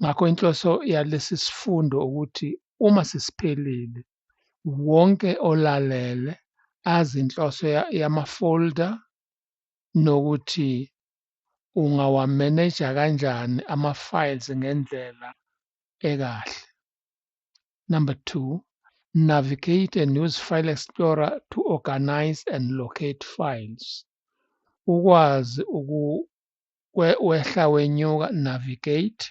Ngakho inhloso yalesi sifundo ukuthi uma sesiphelile wonke olalele azi inhloso yamafolder nokuthi ungawamaneja kanjani ama-files ngendlela ekahle. Number two, navigate and use File Explorer to organize and locate files. Ukwazi uku wehla wenyuka navigate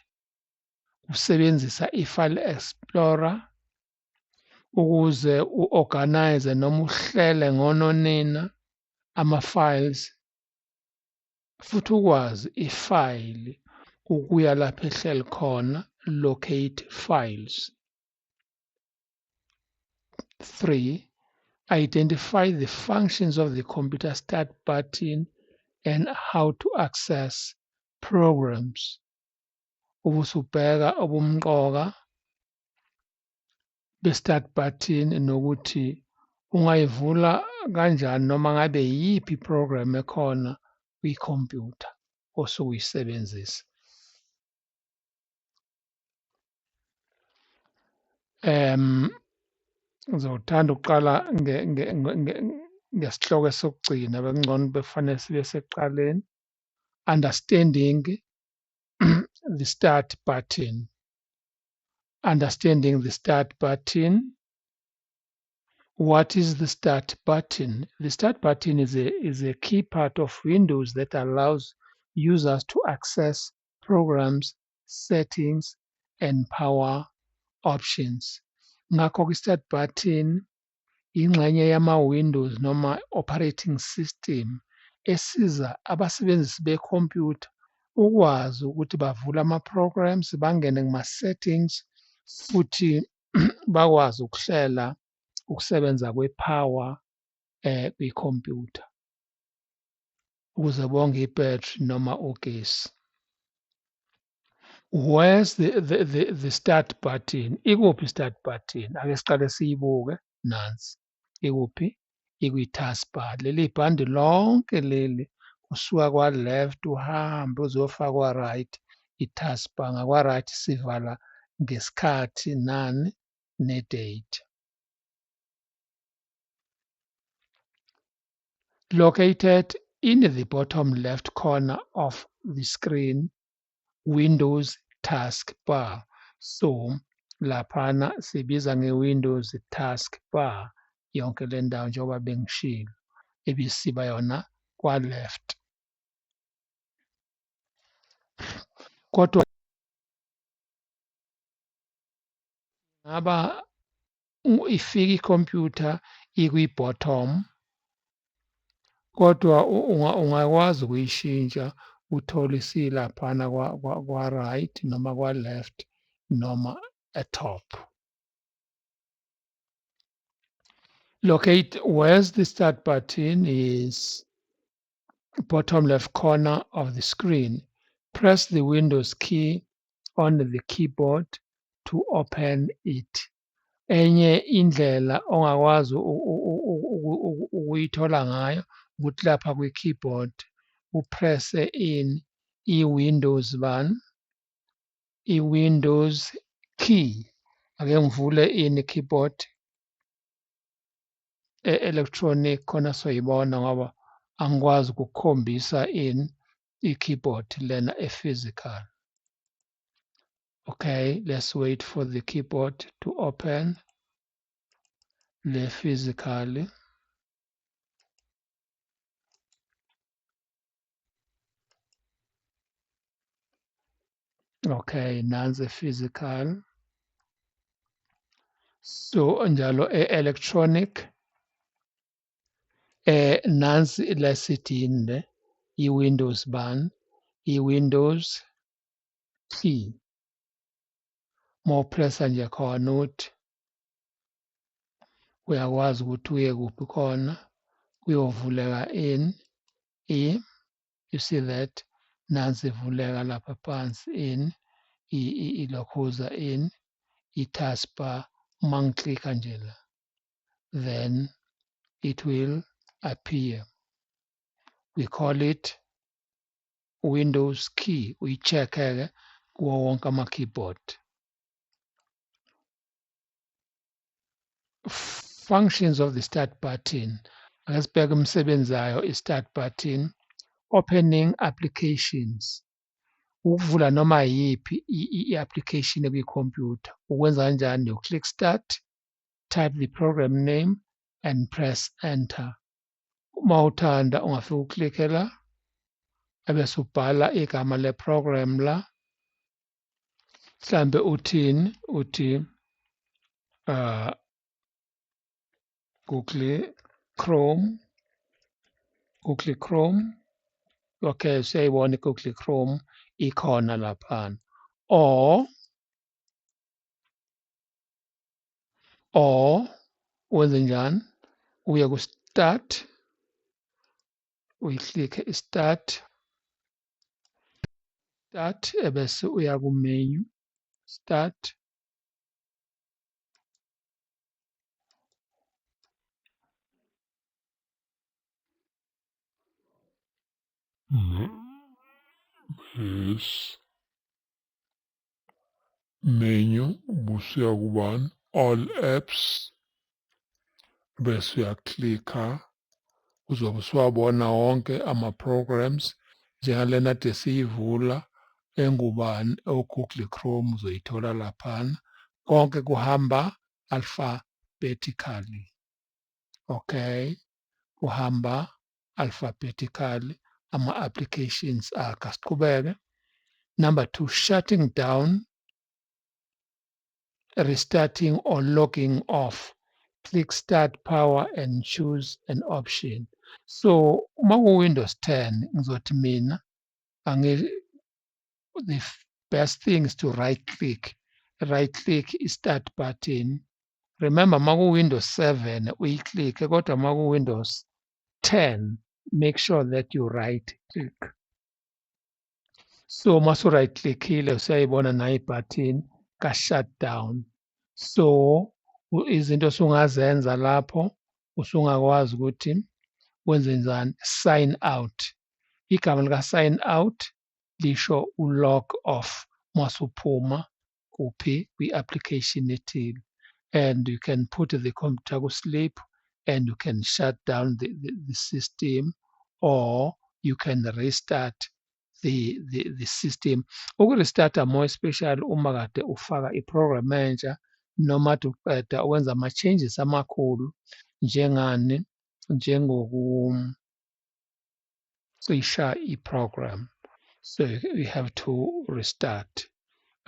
usebenzisa i-file explorer ukuze u-organize noma uhlele ngononina ama-files futhi ukwazi ifayili ukuya lapho ehleli khona locate files 3. Identify the functions of the computer start button and how to access programs. Ubusubheka ubumqoka be-start button nokuthi ungayivula kanjani noma ngabe yiphi program ekhona kwi-computer osukuyisebenzisa. um ngizowuthanda ukuqala ngesihloko esokugcina bekungcono bekufanele sibe sekuqaleni understanding the start button understanding the start button what is the start button the start button is a is a key part of windows that allows users to access programs settings and power options ngakho kwi start button yingxenye yama windows noma operating system esiza abasebenzisi be computer ukwazi ukuthi bavule ama programs bangene kuma settings futhi bakwazi ukuhlela ukusebenza kwe power eh kwi computer ukuze bonge ibhetri noma ugesi where's the, the, the, the start button ikuphi start button ake siqale siyibuke nansi ikuphi ikwi-taskbar leli bhandi lonke leli usuka kwa-left uhambe uzofaka kwa-right i-taskbar ngakwa-right sivala ngesikhathi nani ne-date located in the bottom left corner of the screen Windows taskbar. So laphana sibiza nge-Windows taskbar yonke le ndawo njengoba bengishilo ebisiba yona kwa-left. Kodwa ngaba ifika i-computer ikwi-bottom kodwa ungakwazi ukuyishintsha uthole isilaphana kwa-right noma kwa-left noma e-top. Locate where's the start button is bottom left corner of the screen, press the Windows key on the keyboard to open it. Enye indlela ongakwazi ukuyithola ngayo ukuthi lapha kwi-keyboard upresse in i-Windows ban, i-Windows key. Ake ngivule ini keyboard e-electronic khona soyibona ngoba angikwazi ukukhombisa in i-keyboard lena e-physical okay let's wait for the keyboard to open le physically okay nansi physical so njalo e-electronic eh nansi lesithini le i-windows ban i-windows t mopressa nje khona uthi uyakwazi ukuthi uye kuphi khona kuyovuleka in i you see that nansi ivuleka lapha phansi in ilokhuza in i-taskbar uma ngiklikha nje la then it will appear we call it windows key uyi-check-ke kuwo wonke ama-keyboard functions of the start button ake sibheke imisebenzi yayo i-start button opening applications ukuvula noma yiphi i-application ekuyikhompyutha ukwenza kanjani you click start type the program name and press enter uma uthanda ungafika uklikke la ebese ubhala igama le-program la mhlambe uthini uthi uh Google Chrome Google Chrome okay siyayibona Google Chrome ikhona lapha or or wenze njani uye ku start uyiklikhe i start start ebese uya ku menu start Yes. menu ubusuya kubani all apps bese uyaklikha uzobe usuwabona wonke ama-programs njengalena de siyivula engubani o-google chrome uzoyithola laphana konke kuhamba alphabetically okay kuhamba alphabetically ama-applications akhe asiqhubeke number two shutting down restarting or logging off click start power and choose an option so uma ku-windows 10 ngizothi mina the best thing is to right click right click i-start button remember maku-windows 7 uyi-click-e kodwa maku-windows 10 make sure that you right click so masu-right click-ile usuyayibona nayo ibutton ka-shutdown so izinto osungazenza lapho usungakwazi ukuthi wenze njani sign out igama lika-sign out lisho u-log of masuphuma kuphi kwi-application ethile and you can put the computer ku-sleep and you can shut down the, the, the system or you can restart the, the, the system ukurestata more especially uma kade ufaka i-program manager noma kade uqeda ukwenza ama-changes amakhulu njengani njengoku cisha i-program so you have to restart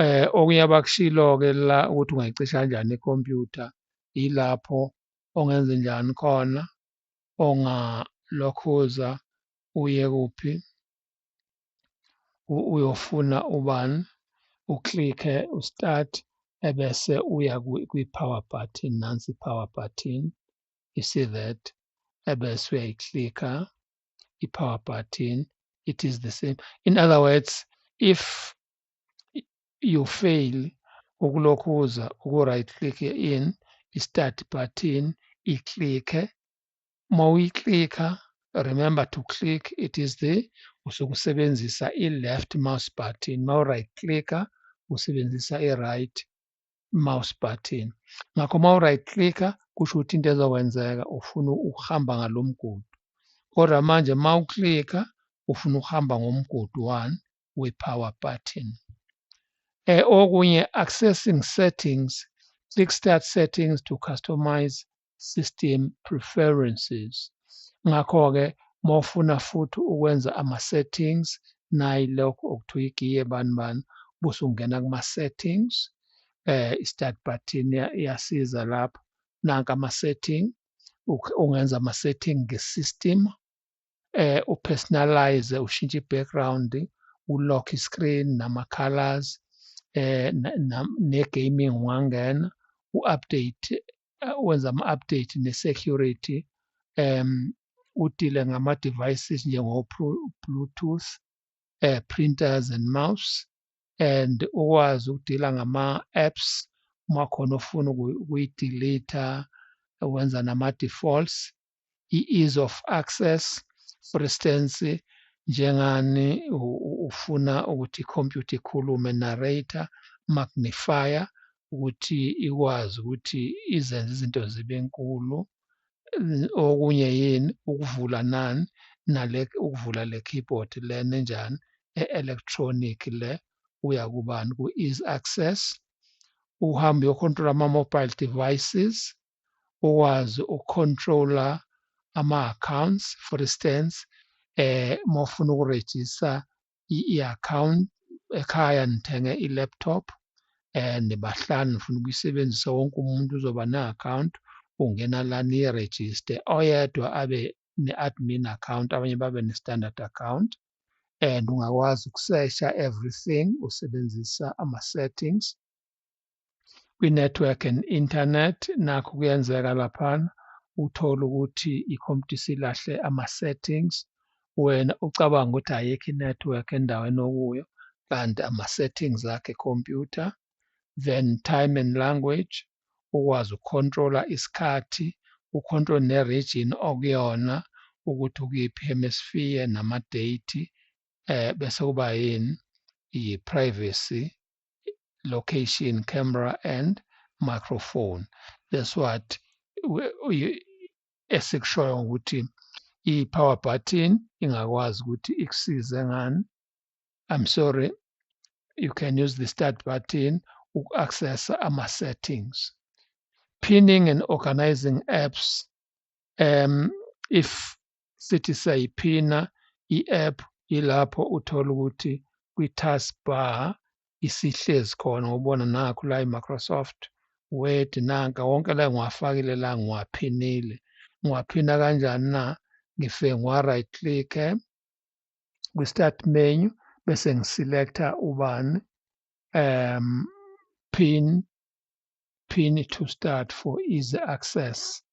eh okunye abakushilo ke la ukuthi ungayicisha kanjani ikhompyutha yilapho ongenze njani khona ongalokhuza uye kuphi uyofuna ubani uklikhe ustart ebese uya kwi-power button nansi i-power button you see that ebese uyayiclicka i-power button it is the same in other words if you fail ukulokhuza uku-right click in i-start button iclicke uma uyiclicka remember to click it is the usuke usebenzisa i-left mouse button uma u-right clicka usebenzisa i-right mouse button ngakho uma u-right clicker kusho ukuthi into ezokwenzeka ufuna ukuhamba ngalo mgudu kodwa manje uma uclicka ufuna ukuhamba ngomgudu one we-power button eh, okunye accessing settings click start settings to customize system preferences. Ngakho-ke mawufuna futhi ukwenza ama-settings nayi lokho okuthiwa igiye bani bani bese ungena kuma-settings eh i-start button iyasiza lapho nanka ama-setting ungenza ama-setting nge-system eh upersonalize ushintshe ibackground ulock iscreen nama colors eh ne gaming wangena u-update eh, wenza ama-update ne-security um udile ngama-devices njengo-bluetooth uh, printers and mouse and ukwazi ukudila ngama-apps uma khona ofuna ukuyi-delete wenza nama-defaults i-ease of access for instance njengani ufuna ukuthi ikhompyutha ikhulume narrator magnifier ukuthi ikwazi ukuthi izenze izinto zibe nkulu okunye yini ukuvula nani nale ukuvula le keyboard lena enjani e-electronic le uya kubani ku-ease access uhambe uyokhontrola ama-mobile devices ukwazi ukucontrola ama-accounts for instance eh uma ufuna ukurejista i-account ekhaya nithenge i-laptop eh nibahlanu nifuna ukuyisebenzisa wonke umuntu uzoba ne-account ungena la niyirejiste oyedwa abe ne-admin account abanye babe ne-standard account and ungakwazi ukusesha everything usebenzisa ama-settings kwi-network and internet nakho kuyenzeka laphana uthole ukuthi i-computer isilahle ama-settings wena ucabanga ukuthi ayikho i-network endaweni okuyo kanti ama-settings akhe computer then time and language ukwazi ukukhontrola isikhathi ukhontrole ne-region okuyona ukuthi ukuyiphi hemisphere nama-date eh bese kuba yini yi-privacy location camera and microphone that's what esikushoyo ukuthi i-power button ingakwazi ukuthi ikusize ngani i'm sorry you can use the start button uku-accessa ama-settings pinning and organizing apps um, if sithi siyayiphina i-app yilapho uthola ukuthi kwi-task bar isihlezi khona ubona nakho la i-microsoft word nanka wonke la ngiwafakile la ngiwaphinile ngiwaphina kanjani na ngifike ngiwa-right click-e kwi-start menu bese ngiselecta ubani um pin pin to start for easy access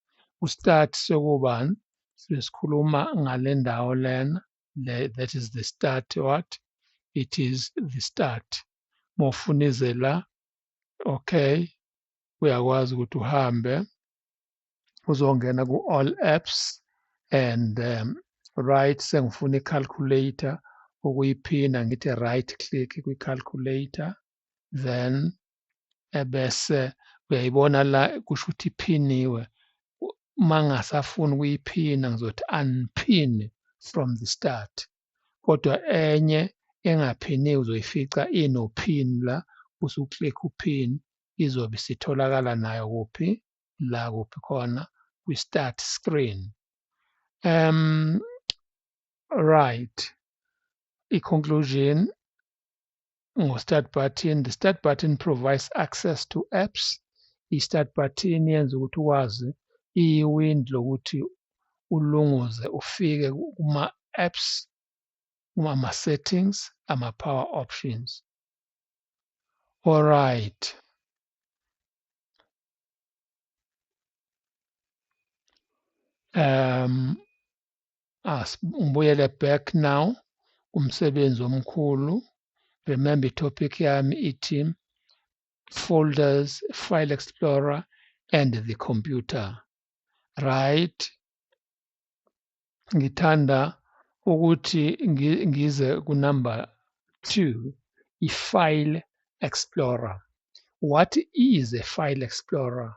kustart sekubani sesikhuluma ngale ndawo lena le that is the start what it is the start mofuna ize la okay uyakwazi ukuthi uhambe uzongena ku all apps and um, right sengifuna i-calculator ukuyiphina ngithi right click kwi-calculator then ebese uyayibona la kusho ukuthi iphiniwe uma ngasafuni ukuyiphina ngizothi unpin from the start kodwa enye engaphiniwe uzoyifica inopin la usuclick upin izobe isitholakala nayo kuphi la kuphi khona kwi-start screen um right i-conclusion ngu-start button the start button provides access to apps i-start button yenza ukuthi ukwazi iwind lokuthi ulunguze ufike kuma-apps kuma-settings ama-power options alright um Asibuyele back now kumsebenzi omkhulu. Remember topic yami ithi folders, file explorer and the computer. Right. Ngithanda ukuthi ngize kunumber 2 i-file explorer. What is a file explorer?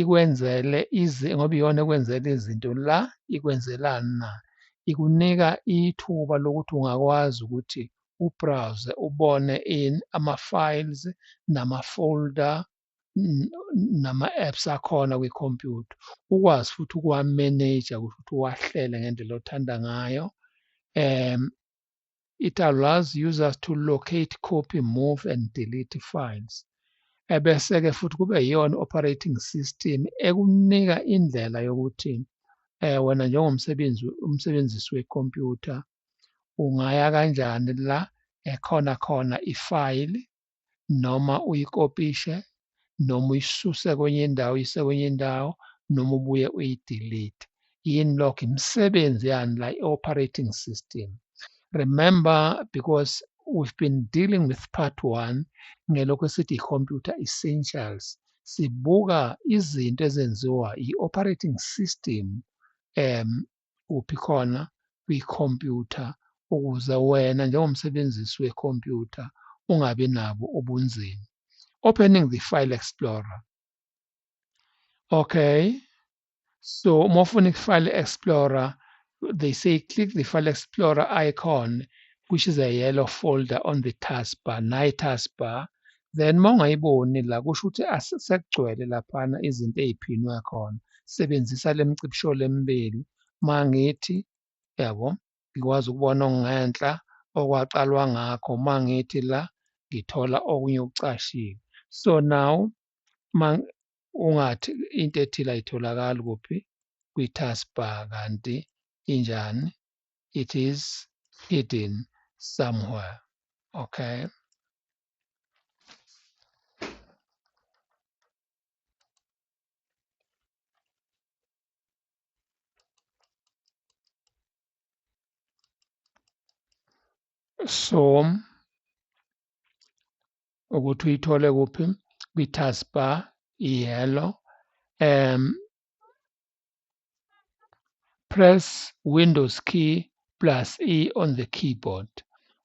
ikwenzele izi ngoba iyona ekwenzela izinto la ikwenzelani na ikunika ithuba lokuthi ungakwazi ukuthi ubrowse ubone in ama-files nama-folder nama-apps akhona kwikhompyutha ukwazi futhi ukuwamanaja ukuthi uwahlele ngendlela othanda ngayo um It allows users to locate, copy, move and delete files. Ebese-ke futhi kube yiyona operating system ekunika indlela yokuthi eh wena njengomsebenzi umsebenzisi wecomputer ungaya kanjani la ekhona khona ifile noma uyikopishe noma uyisuse kwenye indawo uyise kwenye indawo noma ubuye uyidelete yini lokho imisebenzi yani la i-operating system remember because we've been dealing with part one ngelokhu esithi i-computer essentials sibuka izinto ezenziwa i-operating system um uphi khona kwikhompyutha ukuze wena njengomsebenzisi wekhompyutha ungabi nabo ubunzima. Opening the file explorer. Okay. So uma ufuna i-file explorer they say click the file explorer icon which is a yellow folder on the taskbar. Nayi taskbar then uma ungayiboni la kusho ukuthi sekugcwele laphana izinto ey'phinwe khona sebenzisa le mcibisho lemibili uma ngithi yabo ngikwazi ukubona okungenhla okwaqalwa ngakho uma ngithi la ngithola okunye okucashiwe so now uma ungathi into ethile ayitholakali kuphi kwi-taskbar kanti injani it is hidden somewhere okay so ukuthi uyithole kuphi kwi-taskbar yellow um Press Windows key plus E on the keyboard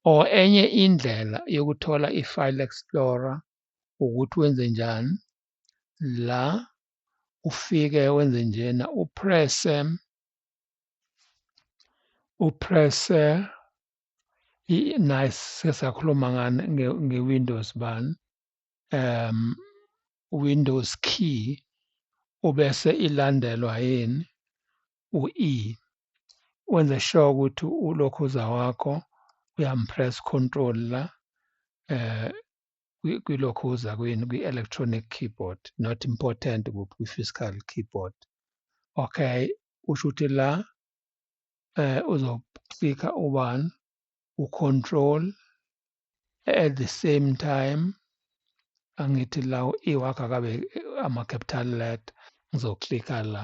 or enye indlela yokuthola i-File Explorer ukuthi wenze njani la ufike wenze njena uprese uprese nice sesakhuluma ngani nge-Windows bani um Windows key ubese ilandelwa yini u-E wenze sure ukuthi ulokhuza wakho uyampress control la eh kwilokhuza kwini kwi-electronic keyboard not important kwi-physical keyboard okay usho ukuthi la eh uzoklika ubani ucontrol at the same time angithi la iwakha kabe ama capital let ngizoclicka la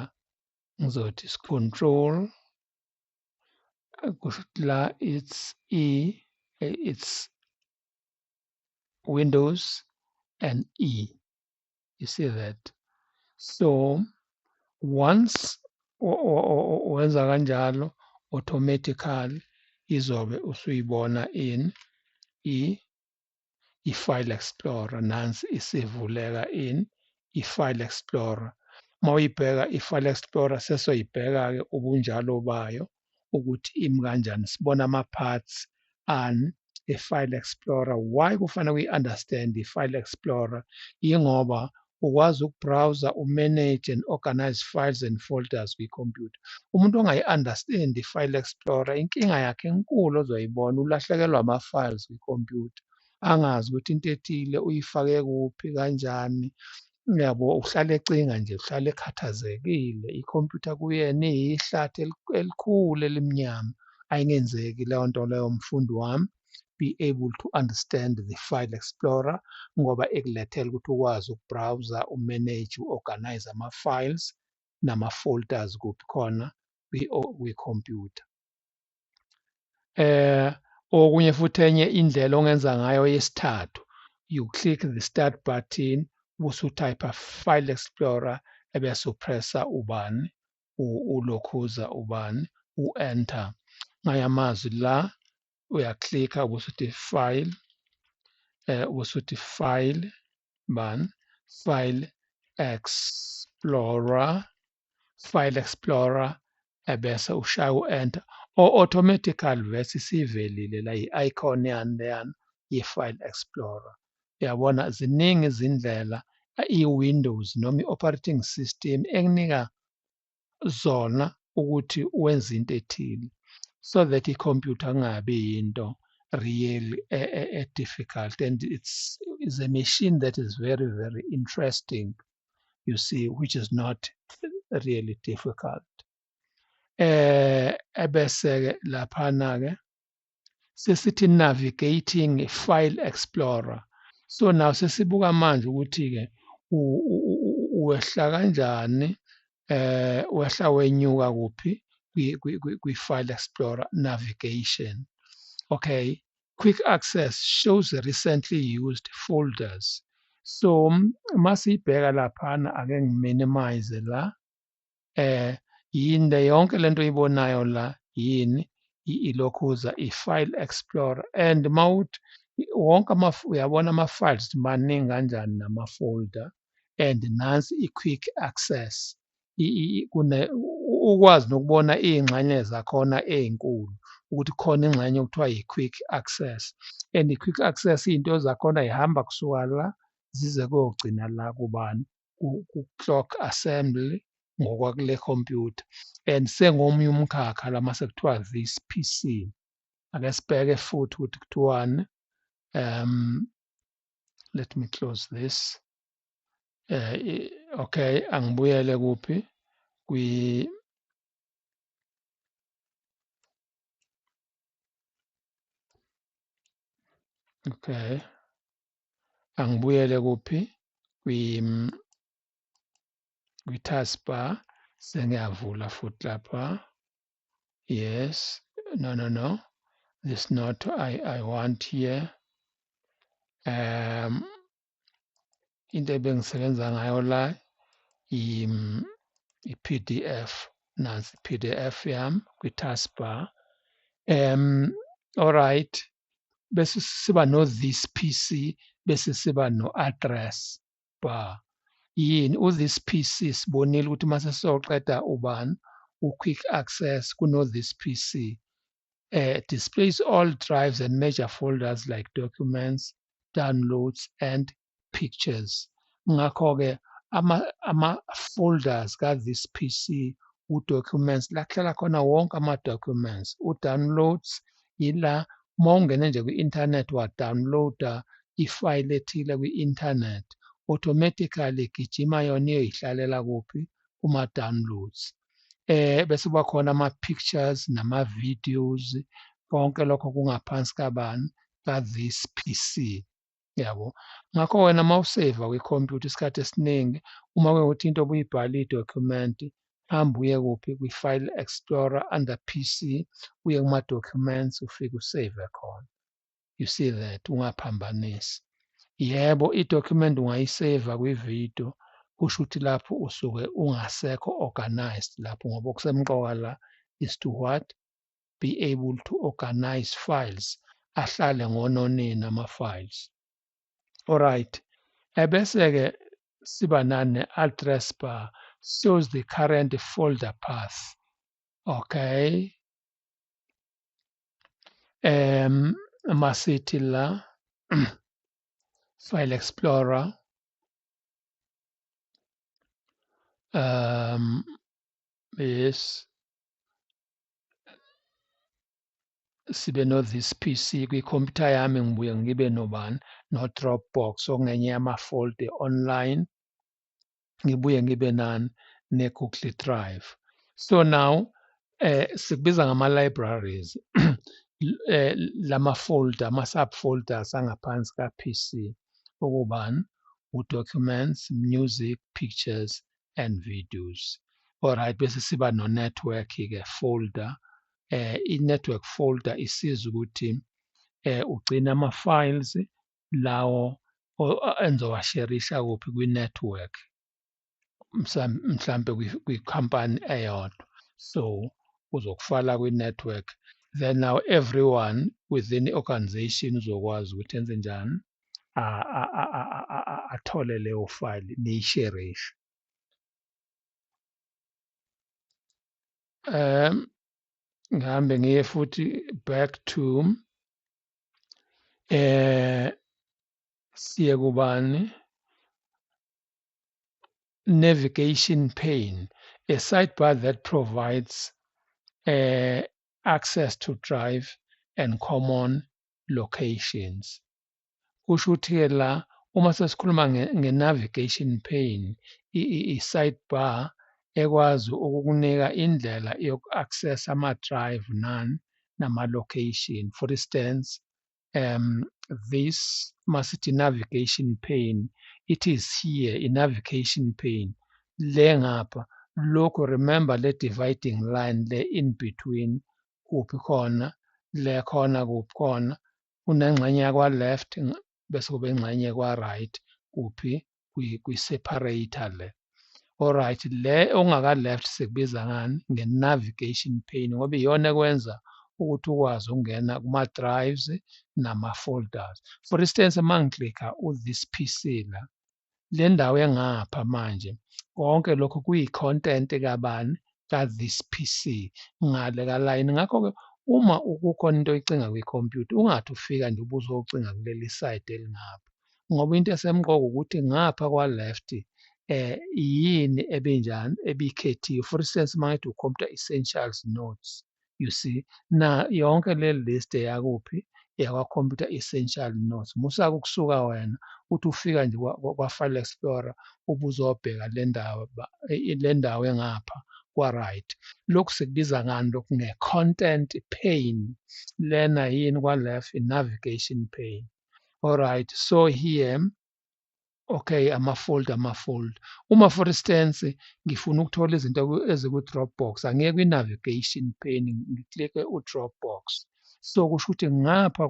ngizothi control kusho la it's e it's windows and e you see that so once wenza kanjalo automatically izobe usuyibona in i i-file explorer nansi isivuleka in i-file explorer uma uyibheka i-file explorer sesoyibheka-ke ubunjalo bayo ukuthi imi kanjani sibona ama-parts ani i-file explorer why kufanele kuyi-understand i-file explorer yingoba ukwazi ukubrowsa umanage and organize files and folders kwikhompyutha umuntu ongayi-understand i-file explorer inkinga yakhe enkulu ozoyibona ulahlekelwa ama-files kwikhompyutha angazi ukuthi into ethile uyifake kuphi kanjani Uyabo uhlale ecinga nje, uhlale ekhathazekile. Ikhompyutha kuyena iyihlathi elikhulu elimnyama. Ayingenzeki leyo nto leyo mfundi wami. Be able to understand the file explorer ngoba ekulethela ukuthi ukwazi ukubrowser, umanage, uorganize ama-files nama-folders kuphi khona kwi-computer. eh okunye futhi enye indlela ongenza ngayo yesithathu you click the start button bese utype file explorer ebese upressa ubani ulokhuza ubani u-enter ngaya amazwi la uyaklikha ubese uthi file eh ubese uthi file bani file explorer File Explorer ebese ushaya u-Enter or automatically vese isivelile la i-icon yani leyana ye-File Explorer. Uyabona ziningi izindlela i-Windows noma i-operating system ekunika zona ukuthi wenze into ethile so that i-computer kungabi yinto really a, a, a difficult and it's is a machine that is very very interesting you see, which is not really difficult. Eh, ebese-ke laphana-ke sesithi navigating file explorer. So now sesibuka manje ukuthi-ke wehla kanjani eh wehla wenyuka kuphi kwi-file explorer navigation okay Quick Access shows recently used folders. So uma siyibheka laphana ake ngiminimize la eh yini le yonke lento oyibonayo la yini ilokhuza i-file explorer and mawuthi wonke uyabona ama-files maningi kanjani nama-folder and nansi i-quick access ukwazi nokubona iy'ngxenye zakhona ey'nkulu ukuthi khona ingxenye okuthiwa yi-quick access and i-quick access iy'nto zakhona yihamba kusuka la zize kogcina la kubani ku-clock assembly ngokwakule computer and sengomunye umkhakha lama sekuthiwa this PC ake sibheke futhi ukuthi kuthiwani um let me close this eh okay angibuyele kuphi kwi okay angibuyele kuphi kwi kwi taskbar sengiyavula futhi lapha yes no no no this not i i want here um into ebengisebenza ngayo la i-pdf nansi i-pdf yam kwi-taskbar um alright bese siba no-this pc bese siba no-address bar yini u-this pc sibonile ukuthi uma sesizoqeda ubani u-quick access kuno-this pc uh, displays all drives and major folders like documents, downloads and pictures. Ngakho-ke ama-folders ama ka-this PC u-documents la kuhlala khona wonke ama-documents u-downloads yila uma ungene nje kwi-internet wadownloada ifayile ethile kwi-internet automatically igijima yona iyoyihlalela kuphi kuma-downloads eh bese kuba khona ama pictures nama videos konke lokho kungaphansi kabani ka this PC yabo ngakho wena mawusave kwi computer isikhathi esiningi uma kuyokuthi into obuyibhala i document hamba uye kuphi kwi file explorer under PC uye kuma documents ufike usave khona you see that ungaphambanisi yebo i-document ungayiseva kwi-video kusho ukuthi lapho usuke ungasekho organized lapho ngoba okusemqoka la is to what be able to organize files ahlale ngononina ama-files alright ebese-ke siba nane address bar shows the current folder path okay um masithi la file explorer um yes sibe no this PC kwikhompyutha yami ngibuye ngibe nobani no Dropbox okungenye yamafolde online ngibuye ngibe nani ne-Google Drive. So now eh sikubiza ngama libraries eh lama folder ama subfolders angaphansi ka PC okubani u documents, music, pictures and videos. Alright bese siba no network ke folder eh i network folder isiza ukuthi eh ugcina ama files lawo engizowasherisha kuphi kwi-network mhlampe kwikhampani eyodwa so uzokufala kwi-network then now everyone within i-organization uzokwazi ukuthi enze njani athole leyo file niyisherishe um ngihambe ngiye futhi back to eh siye kubani navigation pane a sidebar that provides uh, access to drive and common locations kusho ukuthi-ke la uma sesikhuluma nge-navigation pane i-sidebar ekwazi ukukunika indlela yoku-access ama-drive nani nama-location. For instance, um, this masithi navigation pane, it is here i-navigation pane le ngapha lokhu remember le dividing line le in between kuphi khona le khona kuphi khona unengxenye yakwa left bese kube ingxenye kwa right kuphi kwi separator le alright le ongaka left sikubiza ngani nge navigation pane ngoba iyona ekwenza ukuthi ukwazi ukungena kuma drives nama folders for instance mangiclicka u this PC la le ndawo engapha manje konke lokho kuyi-content kabani ka-this PC ngale kalayini ngakho-ke uma kukhona into oyicinga kwikhompyutha ungathi ufika nje ubuzocinga kuleli side elingapha ngoba into esemqoka ukuthi ngapha kwa-left eh yini ebinjani ebikhethiwe for instance mangithi ucomputer essentials notes you see na yonke le list yakuphi yakwa-computer essential notes musake ukusuka wena uthi ufika nje kwa-file explorer ubuzobheka le ndawo e, le ndawo engapha kwa-right lokhu sikubiza ngani lokhu nge-content pane lena yini kwa-left i-navigation pane alright so here okay amafold amafold uma for instance ngifuna ukuthola izinto eziku Dropbox angiye kwi navigation pane ngiclick u Dropbox so kusho ukuthi ngapha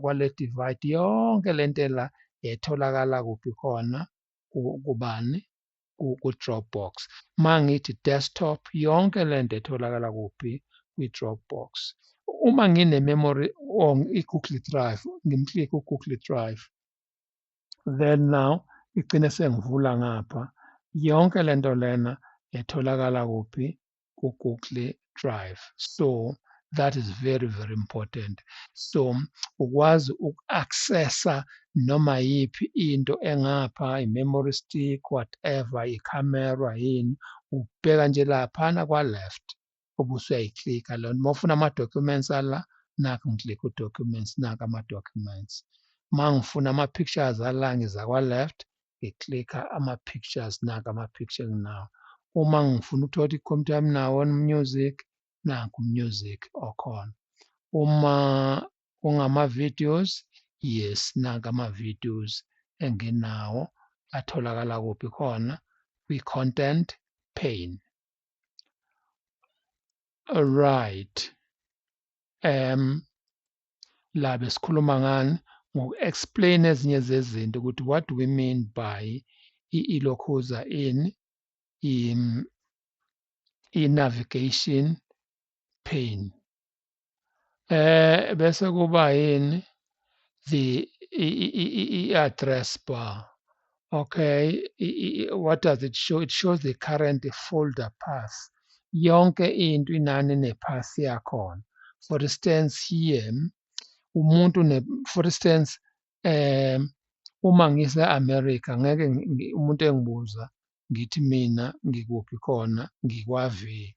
kwale divide yonke lento la etholakala kuphi khona kubani ku Dropbox mangithi desktop yonke lento etholakala kuphi kwi Dropbox uma ngine memory or i Google Drive ngimclick u Google Drive then now igcine sengivula ngapha yonke lento lena etholakala kuphi ku-google drive so that is very very important so ukwazi uku-accessa noma yiphi into engapha i-memory stick whatever i-camera yini ubheka nje laphana kwa-left ubuse uyayiklika leyo nto uma ufuna ama-documents ala nakho ngiklikha u-documents naka ama-documents uma ngifuna ama-pictures ala ngiza kwa-left ngiklikha ama-pictures naka ama-picture nginawo uma ngifuna ukuthola ukuthi i-computer yami nawo music nanku music okhona uma ungama-videos yes nanka ama-videos enginawo atholakala kuphi khona kwi-content pane right um la besikhuluma ngani ngoku-explain ezinye zezinto ukuthi what do we mean by i-ilokhuza in in i-navigation pain eh bese kuba yini the i-address bar okay what does it show it shows the current folder path yonke into inani nepath yakhona for instance here umuntu ne for instance um uma ngise America ngeke umuntu engibuza ngithi mina ngikuphi khona ngikwavi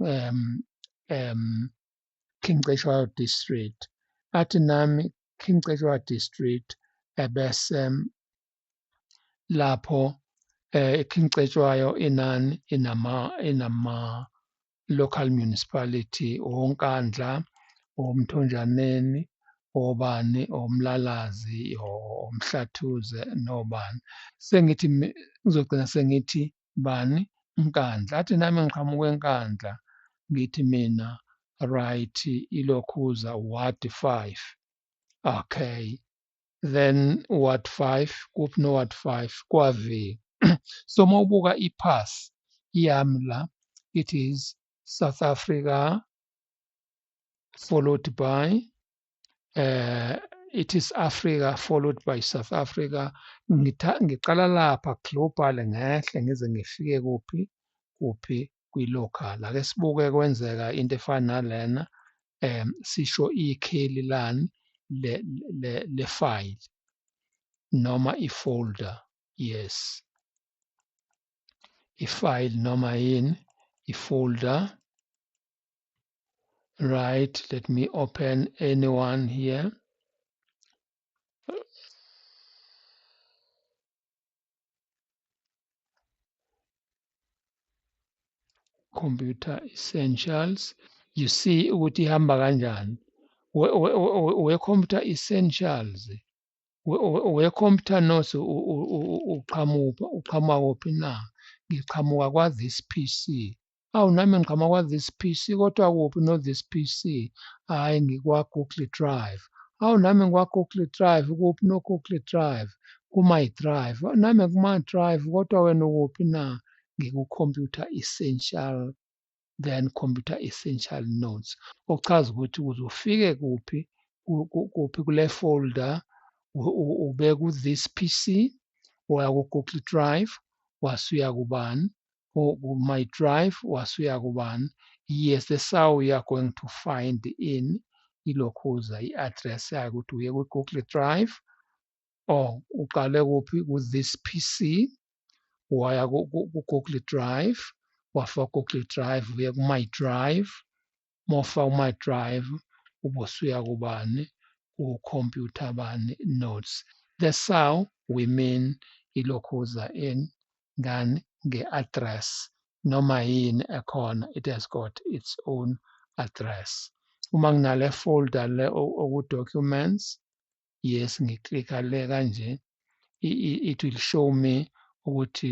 um um King Cetshwayo district athi nami King Cetshwayo district ebese lapho eh King Cetshwayo inani inama inama local municipality onkandla omthonjaneni obani omlalazi omhlathuze nobani sengithi ngizogcina sengithi bani Nkandla athi nami ngiqhamuka eNkandla ngithi mina right ilokhuza ward 5 okay then ward 5 kuphi no ward 5 kwavika so uma ubuka ipass yami la it is South Africa followed by eh it is Africa followed by South Africa ngitha ngiqala lapha global ngehle ngize ngifike kuphi kuphi kwi-local ake sibuke kwenzeka into efana nalena um sisho ikheli lani le-file noma i-folder yes i-file noma yini i-folder right let me open anyone here computer essentials you see ukuthi ihamba kanjani we computer essentials we computer notes uqhamuka uqhamuka kuphi na ngiqhamuka kwa this pc Awu nami ngiqhamuka kwa-this PC kodwa kuphi no-this PC? Hhayi ngikwa-Google Drive. Awu nami ngikwa-Google Drive kuphi no-Google Drive? Ku-my Drive. Nami kuma Drive kodwa wena ukuphi na? Ngiku-Computer Essential then Computer Essential Notes. Okuchaza ukuthi ukuze ufike kuphi kuphi kule folder ube ku-this PC, waya ku-Google Drive, wasuya kubani? who, who my drive wasuya kubani yes the saw you are going to find in ilokhuza i-address yayo ukuthi uye kwi-google drive or uqale kuphi ku-this pc waya ku-google drive wafa google drive uye ku-my drive mofa kuma drive ubosuya kubani ku computer bani notes that's how we mean ilokhuza in ngani nge address noma yini ekhona it has got its own address uma nginale folder le oku documents yes ngiklikha le kanje it will show me ukuthi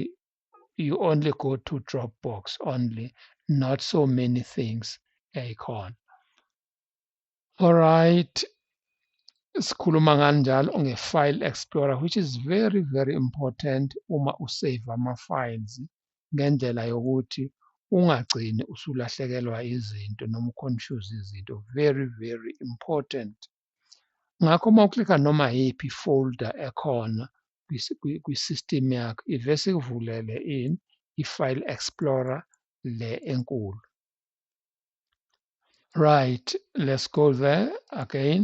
you only go to Dropbox only, not so many things yayikhona. Alright, sikhuluma ngani njalo nge-file explorer which is very very important uma usave ama-files ngendlela yokuthi ungagcini usulahlekelwa izinto noma uconfuse izinto very very important ngakho uma uklika noma yiphi folder ekhona kwi-system yakho ivese ikuvulele ini i-file explorer le enkulu right let's go there again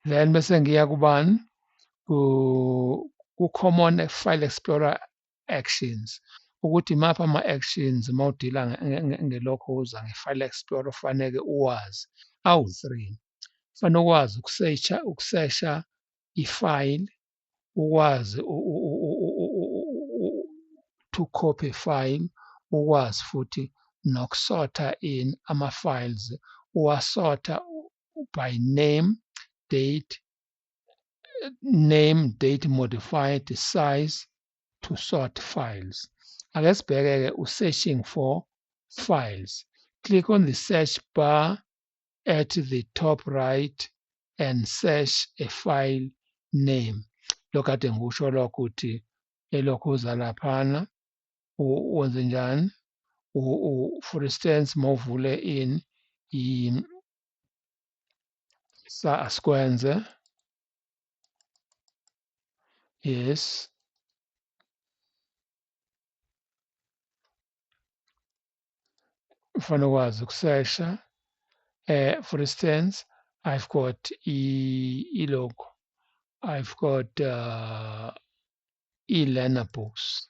then bese ngiya kubani ku-common file explorer actions ukuthi maphi ama-actions uma udila ngelokho uza nge-file explorer kufaneke uwazi awu-three kufanele ukwazi ukusesha ukusesha i-file ukwazi to copy file ukwazi futhi nokusotha in ama-files uwasotha by name date name date modified size to sort files ake sibheke-ke u-searching for files click on the search bar at the top right and search a file name lokhu kade ngikusho lokho ukuthi elokhu uza laphana wenze njani for instance mawuvule in sa asikwenze yes ufana ukwazi ukusesha eh for instance i've got i logo i've got uh, i-learner books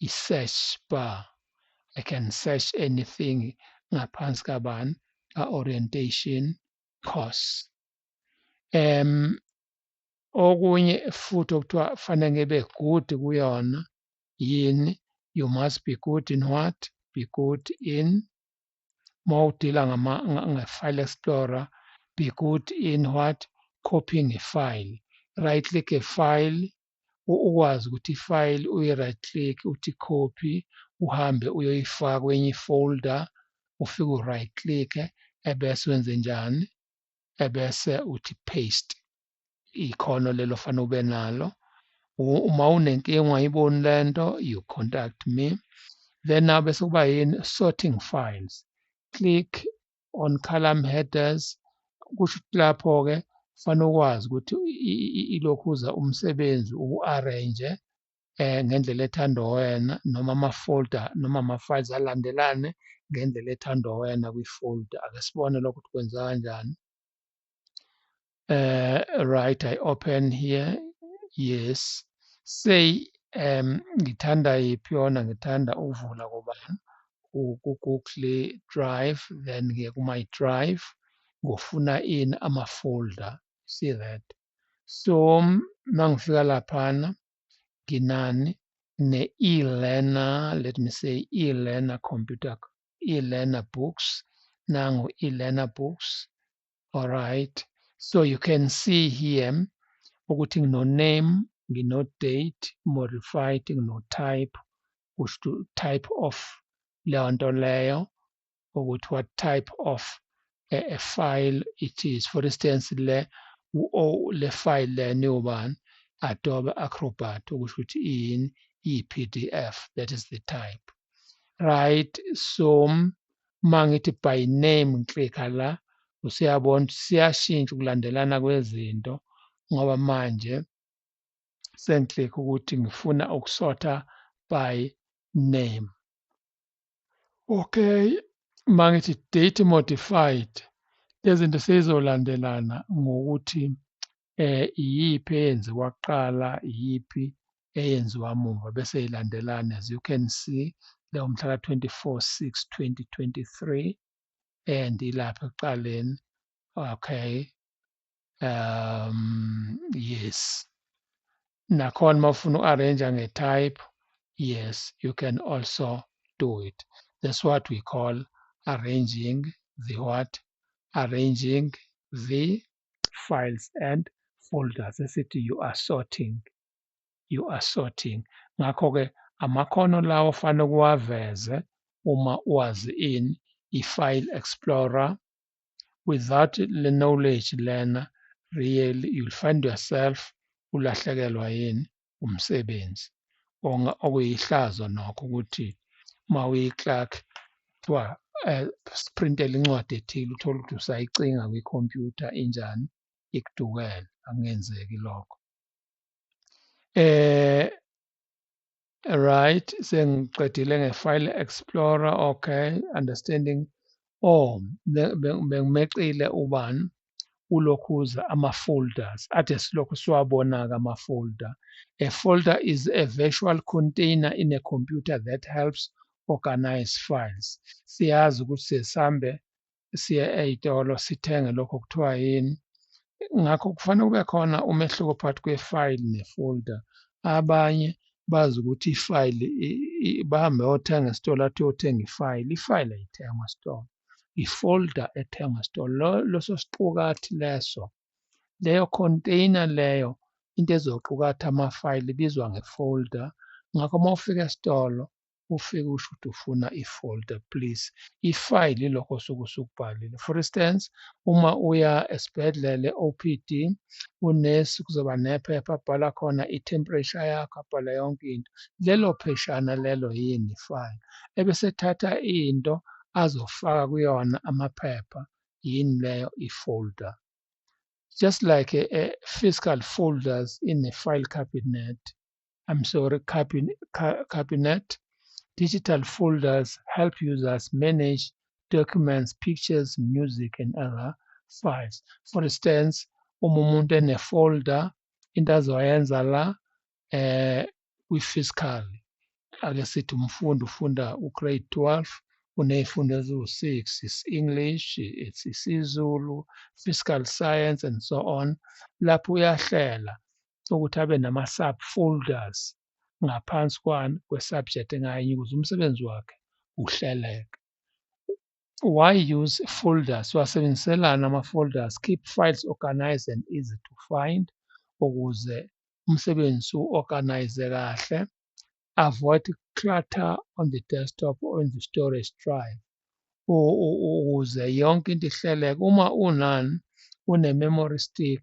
i-search bar. I can search anything ngaphansi kabani ka-orientation course. Um, okunye futhi okuthiwa fanele ngibe good kuyona yini you must be good in what be good in uma udila nge-file explorer be good in what copying a file right click a file ukwazi ukuthi ifayili uyi-right click uthi copy uhambe uyoyifaka kwenye ifolder ufike u-right click ebese wenze njani ebese uthi paste ikhono lelo fanele ube nalo uma unenkinga ungayiboni le nto you contact me then now bese kuba yini sorting files click on column headers kusho ukuthi lapho-ke kufanele ukwazi ukuthi ilokhuza umsebenzi uku-arrange eh ngendlela ethandwa wena noma ama-folder noma ama-files alandelane ngendlela ethandwa wena kwi-folder ake sibone lokho ukuthi kwenza kanjani uh, right i open here yes say um ngithanda yiphi yona ngithanda ukuvula kobani ku-google drive then ngiye ku-my drive ngofuna in ama-folder see that so mangifika laphana nginani ne-e-learner let me say e-learner computer e-learner books nangu e-learner books all right so you can see here ukuthi ngino-name ngino-date modified ngino-type kusho ukuthi type of leyo nto leyo ukuthi what type of a, a file it is for instance le u-o le file le niwubani adobe acrobat okusho ukuthi in i-pdf that is the type right so uma ngithi by name ngiklikha la usuyabona ukuthi siyashintsha ukulandelana kwezinto ngoba manje sengiklikha ukuthi ngifuna ukusotha by name okay mangithi date modified lezinto sezizolandelana ngokuthi eh iyiphi eyenziwa kuqala iyiphi eyenziwa muva bese ilandelana as you can see leyo mhla ka 24 6 2023 and ilapha ekuqaleni okay um yes nakhona uma ufuna u-arrange nge-type yes you can also do it that's what we call arranging the what arranging the files and folders esithi you are sorting you are sorting ngakho-ke amakhono lawo ofanele ukuwaveze uma wazi in i-file explorer without le knowledge lena really you'll find yourself ulahlekelwa yini umsebenzi okuyihlazo nokho ukuthi uma uyi-clerk kuthiwa eh, sprintele incwadi ethile uthole ukuthi usayicinga kwikhompyutha injani ikudukele akungenzeki lokho eh right sengiqedile nge-file explorer okay understanding oh bengimeqile ubani ulokhuza ama-folders ade silokhu siwabona-ke ama-folder a folder is a virtual container in a computer that helps organize files siyazi ukuthi sesihambe siye ey'tolo sithenge lokho kuthiwa yini ngakho kufanele kube khona umehluko phakathi kwefayili nefolder abanye bazi ukuthi ifayili bahambe yothenga esitolo athi yothenga ifayili ifayili ayithengwa esitolo ifolder ethengwa esitolo leso siqukathi leso leyo container leyo into ezoqukatha amafayili ibizwa ngefolder ngakho uma ufika esitolo ufike usho ukuthi ufuna i-folder please ifayili lokho osuke usukubhalile for instance uma uya esibhedlele OPD unesi kuzoba nephepha abhala khona i-temperature yakho abhala yonke into lelo pheshana lelo yini ifayili ebesethatha into azofaka kuyona amaphepha yini leyo i-folder just like a, a fiscal folders in a file cabinet I'm sorry, cabinet. Digital folders help users manage documents, pictures, music, and other files. For instance, uma umuntu enefolder into azoyenza la eh kwi-fiscal ake sithi umfundi ufunda ugrade 12 uney'fundo eziwu-6 isi-english it's isiZulu fiscal science and so on lapho uyahlela ukuthi abe nama-subfolders ngaphansi kwani kwe-subject ngayinye ukuze umsebenzi wakhe uhleleke. Why use folders? Siwasebenziselana ama-folders, keep files organized and easy to find ukuze umsebenzi u-organize kahle avoid clutter on the desktop or in the storage drive ukuze yonke into ihleleke uma unan une-memory stick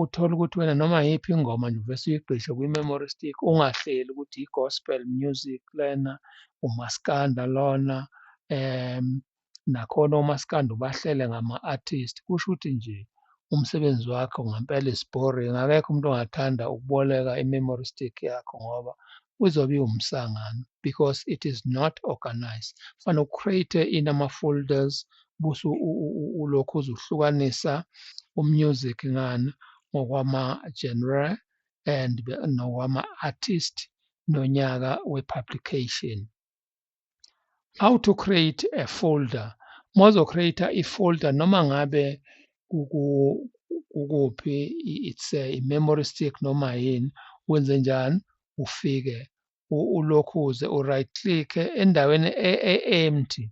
uthole ukuthi wena noma yiphi ingoma nje uvese uyigqishe kwi-memory stick ungahleli ukuthi i-gospel music lena umaskanda lona um nakhona omaskandi ubahlele ngama-artist kusho ukuthi nje umsebenzi wakho ngempela is boring akekho umuntu ongathanda ukuboleka i-memory stick yakho ngoba uzobe iwumsangano because it is not organized fanele ucreate in ama-folders busu ulokhu uzuhlukanisa umusic ngani ngokwama-genre and nokwama-artist nonyaka we-publication how to create a folder mozo create i folder noma ngabe kukuphi it's a memory stick noma yini wenze njani ufike ulokhu uze u right click endaweni e, e empty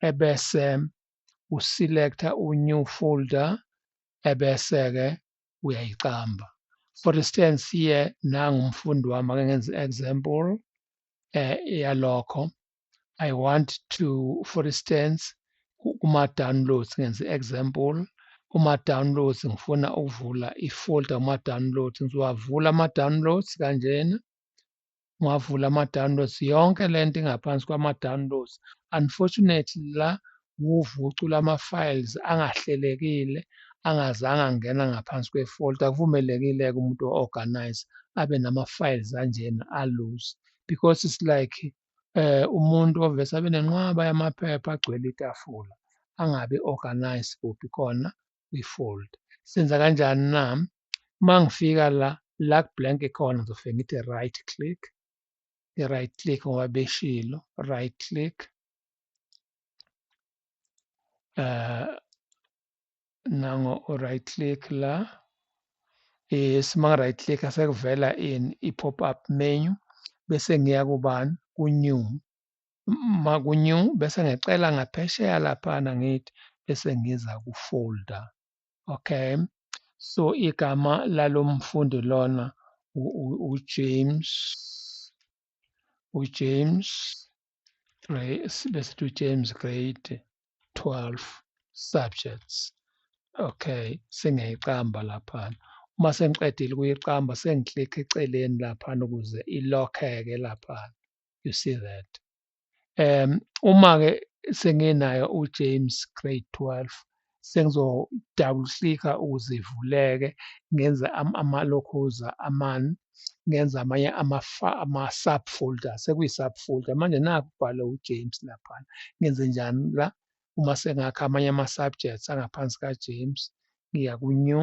ebese u select u new folder ebese ke uyayiqamba for instance here nangu umfundi wami ake ngenze example eh, yalokho i want to for instance kuma downloads ngenza example kuma downloads ngifuna ukuvula ifolder kuma downloads ngiwavula ama downloads kanjena ngwavula ama downloads yonke lento ingaphansi kwama downloads unfortunately la wuvucu lwama-files angahlelekile angazange angena ngaphansi kwe-fault akuvumelekile-ke umuntu o-organize abe nama-files anjena alose because it's like eh umuntu ovese abe nenqwaba yamaphepha agcwele itafula angabe organize kuphi khona kwi-fold senza kanjani na uma ngifika la la blank khona ngizofike ngithi right click i-right click ngoba beshilo right click uh, nango right click la eh sima right click asekuvela in i pop up menu bese ngiya kubani ku new ma ku new bese ngicela ngaphesheya lapha ngithi bese ngiza ku folder okay so igama lalomfundi lona uJames uJames besithi ujames grade 12 subjects okay sengiyayiqamba laphana uma sengiqedile ukuyiqamba sengiklikha eceleni laphana ukuze ilokheke laphana you see that um uma-ke senginayo ujames grade 12 sengizodabula uhlika ukuze ivuleke ngenze amalokhoza amane ngenza amanye ama-subfolder sekuyi-subfolder manje nakho ubhale ujames laphana ngenze njani la uma sengakha amanye ama-subjects angaphansi kajames ngiya ku-new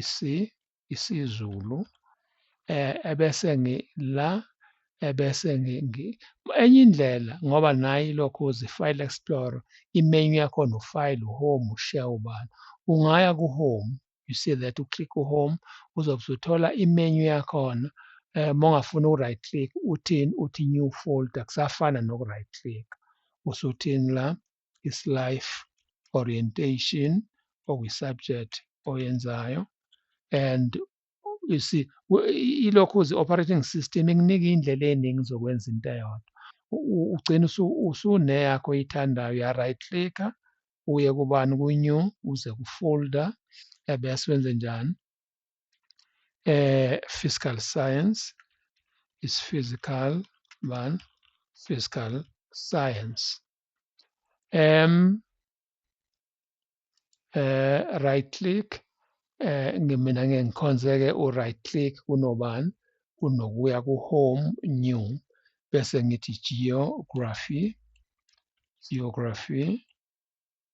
isi isiZulu eh ebese ngi la ebese ngi ngi- enye indlela ngoba nayi lokhu uzi file explorer imenu yakhona ufile uhome ushare ubani ungaya kuhome you see that u click uhome uzobe usuthola imenu yakhona eh mongafuna u right click uthini uthi new folder kusafana noku right click usuthini la isi-life orientation okwi-subject oyenzayo and isi ilokhu uzi-operating system ikunika indlela eningi zokwenza into eyodwa ugcina usuneyakho oyithandayo uya-right clicker uye kubani ku-new uze ku-folder ebese wenze njani eh physical science is physical man physical science um eh right click eh ngimina ngeke ngikhonzeke u right click kunobani kunokuya ku home new bese ngithi geography geography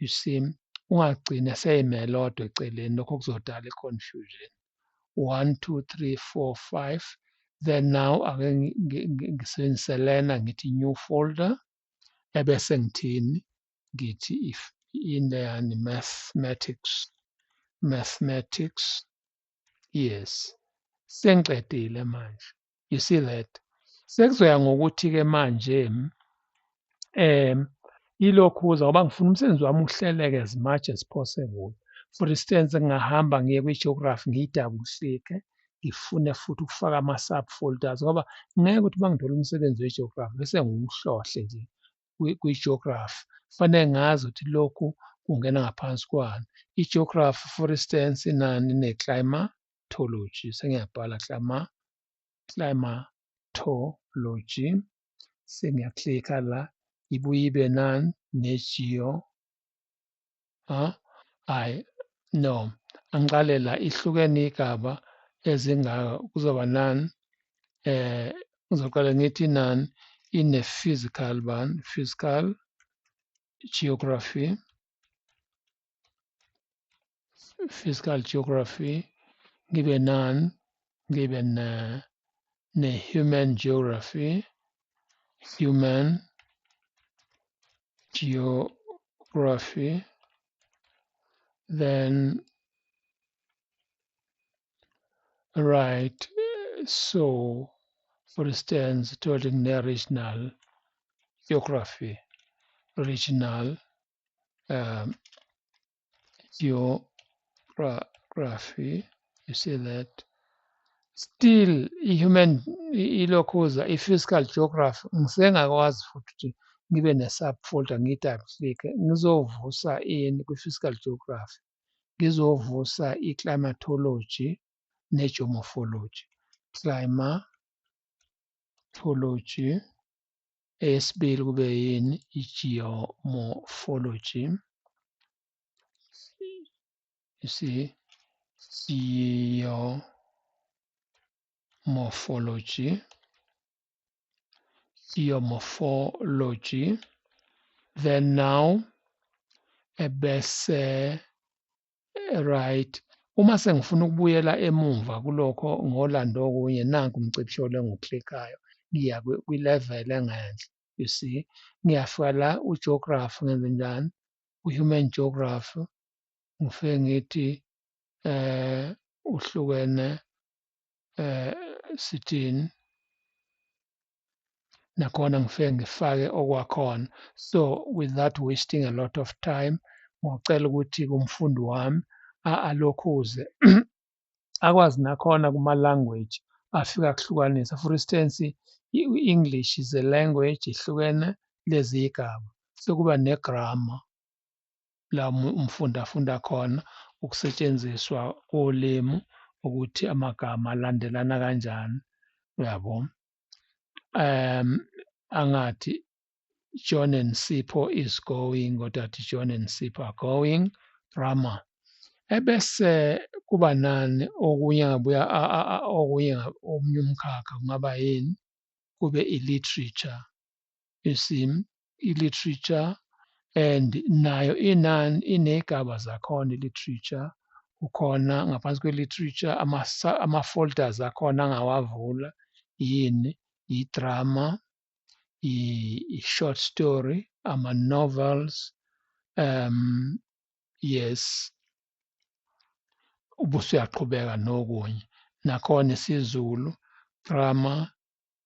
you see ungagcini eseyime elodwa eceleni lokho kuzodala i-confusion one two three four five then now ake ngisebenzise lena ngithi new folder ebese ngithini ngithi if in leyani mathematics mathematics yes sengiqedile manje you see that sekuzoya ngokuthi-ke manje um ilokhu kuza ngoba ngifuna umsebenzi wami uhleleke as much as possible for instance ngingahamba ngiye kwi-geography ngiyidabusike ngifune futhi ukufaka ama-subfolders ngoba ngeke ukuthi uma ngithola umsebenzi we-geography bese ngiwuhlohle nje kwi-geography kufanele ngazi ukuthi lokhu kungena ngaphansi kwani i-geography for instance inani ne-climatology sengiyabhala clima climatology sengiyaklikha la ibuye ibe nani ne-geo ha hayi no angiqale la ihlukene igaba ezingaka kuzoba nani eh ngizoqala ngithi nani ine physical ban physical geography physical geography ngibe non ngibe ne ne human geography human geography then right so for instance totally regional geography regional um, geography you see that still i-human ilokhuza i-physical geography ngisengakwazi futhi ukuthi ngibe ne-subfolder ngi-double click ngizovusa ini kwi-physical geography ngizovusa i-climatology ne-geomorphology climatology Eyesibili kube yini i-geomorphology. You see, geomorphology. Geomorphology. Then now, ebese Eh, right uma sengifuna ukubuyela emumva kulokho ngolanda okunye nanku umcibisholo engiwuklikayo ngiya kwi-level engenhla you see ngiyafika la ugeography ngenze njani u-human geography ngifike ngithi eh uhlukene eh sithini nakhona ngifike ngifake okwakhona so without wasting a lot of time ngocela ukuthi kumfundi wami alokhuze akwazi nakhona kuma-language afika kuhlukanisa for instance i-english is a language ihlukene lezi yigaba sekuba negrama la umfundi afunda khona ukusetshenziswa kolimi ukuthi amagama alandelana kanjani uyabo um angathi John and Sipho is going kodwa athi John and Sipho are going drama ebese kuba nani okunye ngabuya okunye omunye umkhakha kungaba yini kube i-literature you see i-literature and nayo inan iney'gaba zakhona i-literature kukhona ngaphansi kwe-literature ama-folders akhona angawavula yini yi-drama i-short story ama-novels um yes ubusuyaqhubeka nokunye nakhona isiZulu drama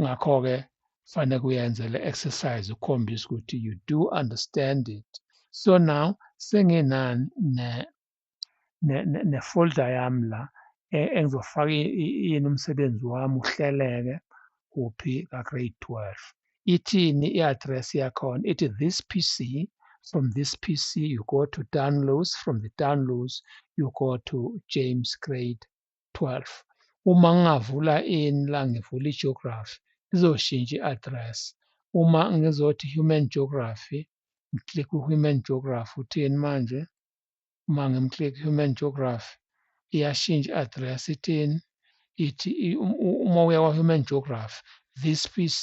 ngakho-ke fanele kuyenze le exercise ukhombisa ukuthi you do understand it so now senginani ne ne ne folder yami la e, engizofaka yini umsebenzi wami uhleleke kuphi ka grade 12 ithini i-address yakhona ithi this pc from this pc you go to downloads from the downloads you go to james grade 12 uma ngingavula ini la ngivula i-geography izoshintsha i-address uma ngizothi human geography ngiclick human geography uthini manje uma ngimclick human geography iyashintsha i-address ithini ithi uma uya kwa-human geography this pc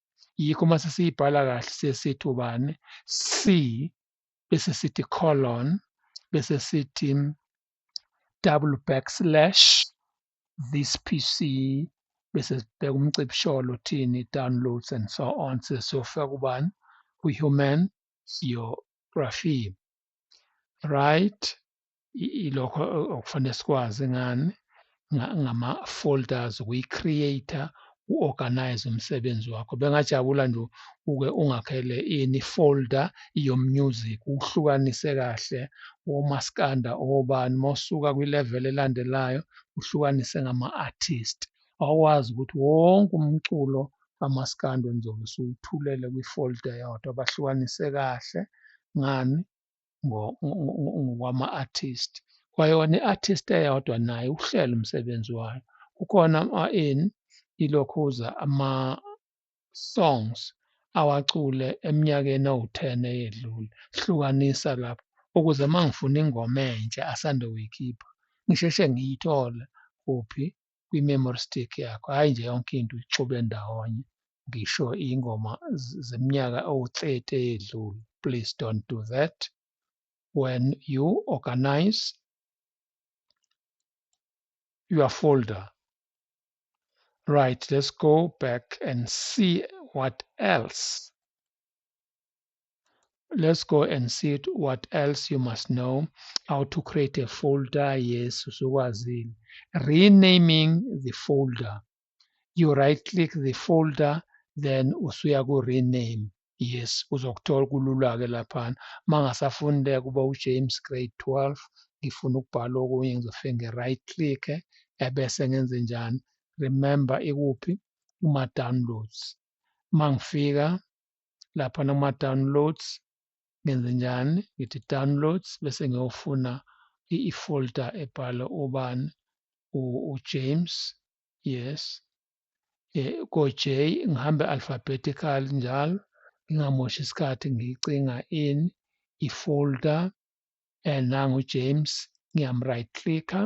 yikho uma sesiyibhala kahle siye sithi ubani c bese sithi colon bese sithi double backslash this pc bese sibheka umcibisholo thini downloads and so on sesiyofika kubani kwi-human geography right ilokho okufanele sikwazi ngani ngama-folders ukuyi-creator u-organize umsebenzi wakho bengajabula nje uke ungakhele ini folder yomusic uhlukanise kahle womaskanda obani mosuka kwi-level elandelayo uhlukanise ngama-artist awukwazi ukuthi wonke umculo kamaskanda ngizobe siwuthulele kwi-folder yodwa bahlukanise kahle ngani ngokwama-artist kwayona i-artist eyodwa naye uhlela umsebenzi wayo kukhona in ilokhuza ama-songs awacule eminyakeni ewu-ten eyedlule hlukanisa lapho ukuze uma ngifuna ingoma entsha asanda kuyikhipha ngisheshe ngiyithole kuphi kwi-memory stick yakho hhayi nje yonke into uyixube ndawonye ngisho iy'ngoma zeminyaka owu-30 eyedlule please don't do that when you organize your folder right let's go back and see what else let's go and see it, what else you must know how to create a folder yes usukwazile renaming the folder you right click the folder then usuya ku rename yes uzokuthola kulula-ke laphana uma ngasafuni le kuba ujames grade 12 ngifuna ukubhala okunye ngizofike nge-right click ebese ngenze njani remember ikuphi kuma-downloads uma ngifika lapha noma downloads ngenze njani ngithi downloads bese ngiyofuna i-folder ebhala ubani uJames yes eh, ko-J ngihambe alphabetical njalo ngingamoshi isikhathi ngicinga in i-folder and nangu James ngiyam right clicker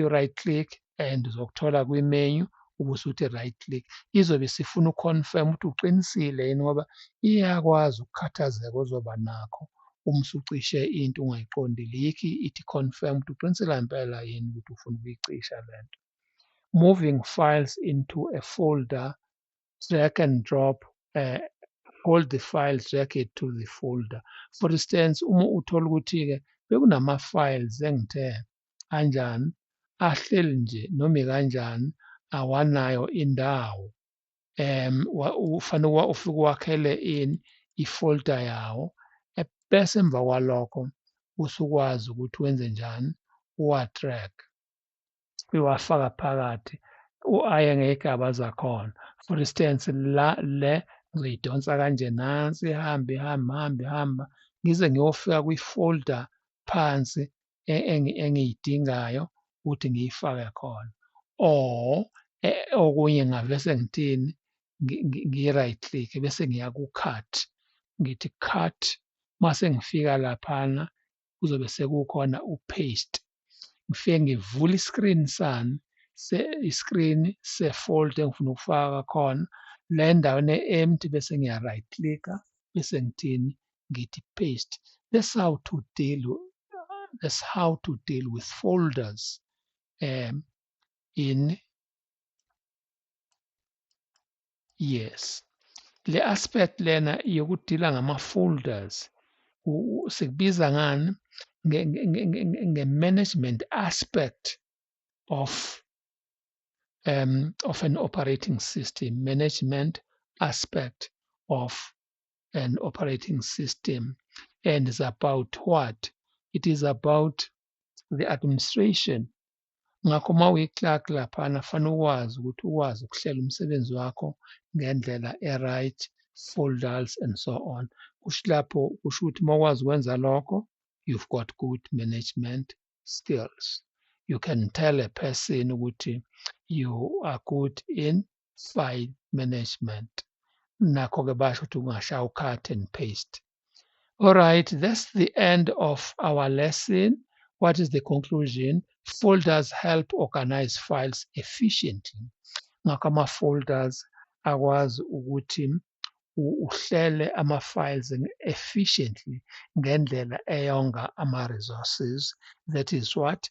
i-right click and uzokuthola kwi-menu ubusuthi right click izobe isifuna uconfirm ukuthi uqinisile yini ngoba iyakwazi ukukhathazeka ozoba nakho uma usucishe into ungayiqondile yikho ithi confirm ukuthi uqinisile ngempela yini ukuthi ufuna ukuyicisha le nto moving files into a folder drag and drop uh, hold the file drag it to the folder for instance uma uthola ukuthi-ke bekunama-files engithe kanjani ahleli nje noma kanjani awanayo indawo um ufanele ufike uwakhele in i-folder yawo bese emva kwalokho usukwazi ukuthi wenze njani uwa-track iwafaka phakathi u-i ngeyigaba zakhona for instance la le ngizoyidonsa kanje nansi ihambe ihambe hambe hamba ngize ngiyofika kwi-folder phansi e, engiyidingayo ukuthi ngiyifake khona or e, okunye ngavese ngithini ngi-right click bese ngiya ku-cut ngithi cut mase ngifika laphana kuzobe sekukhona upaste ngifike ngivule iscreen sami iscreen sefolder engifuna ukufaka khona la endaweni e-empty bese ngiya right clicka bese ngithini ngithi paste that's how to deal that's how to deal with folders um in yes le aspect lena yokudila ngama folders sikubiza ngani nge management aspect of um of an operating system management aspect of an operating system and is about what it is about the administration Ngakho uma uyi-clerk laphana fanele ukwazi ukuthi ukwazi ukuhlela umsebenzi wakho ngendlela e-right, folders and so on. Kusho lapho kusho ukuthi uma ukwazi ukwenza lokho, you've got good management skills. You can tell a person ukuthi you are good in file management nakho ke basho ukuthi ungashawu cut and paste all right that's the end of our lesson what is the conclusion folders help organize files efficiently ngakho ama-folders akwazi ukuthi uhlele ama-files efficiently ngendlela eyonga ama-resources that is what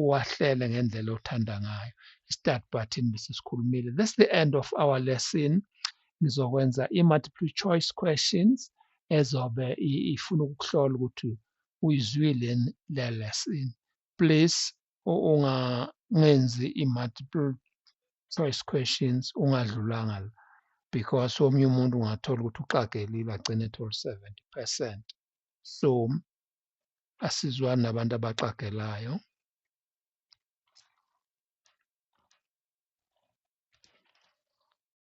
uwahlele ngendlela othanda ngayo i-start button bese sikhulumile this is the end of our lesson ngizokwenza i-multiple choice questions ezobe ifuna ukuhlola ukuthi uyizwile le lesson please ungangenzi i-multiple choice questions ungadlulanga la because omunye umuntu ungathola ukuthi uxagelile agcine ethole 70 percent so asizwani nabantu abaxagelayo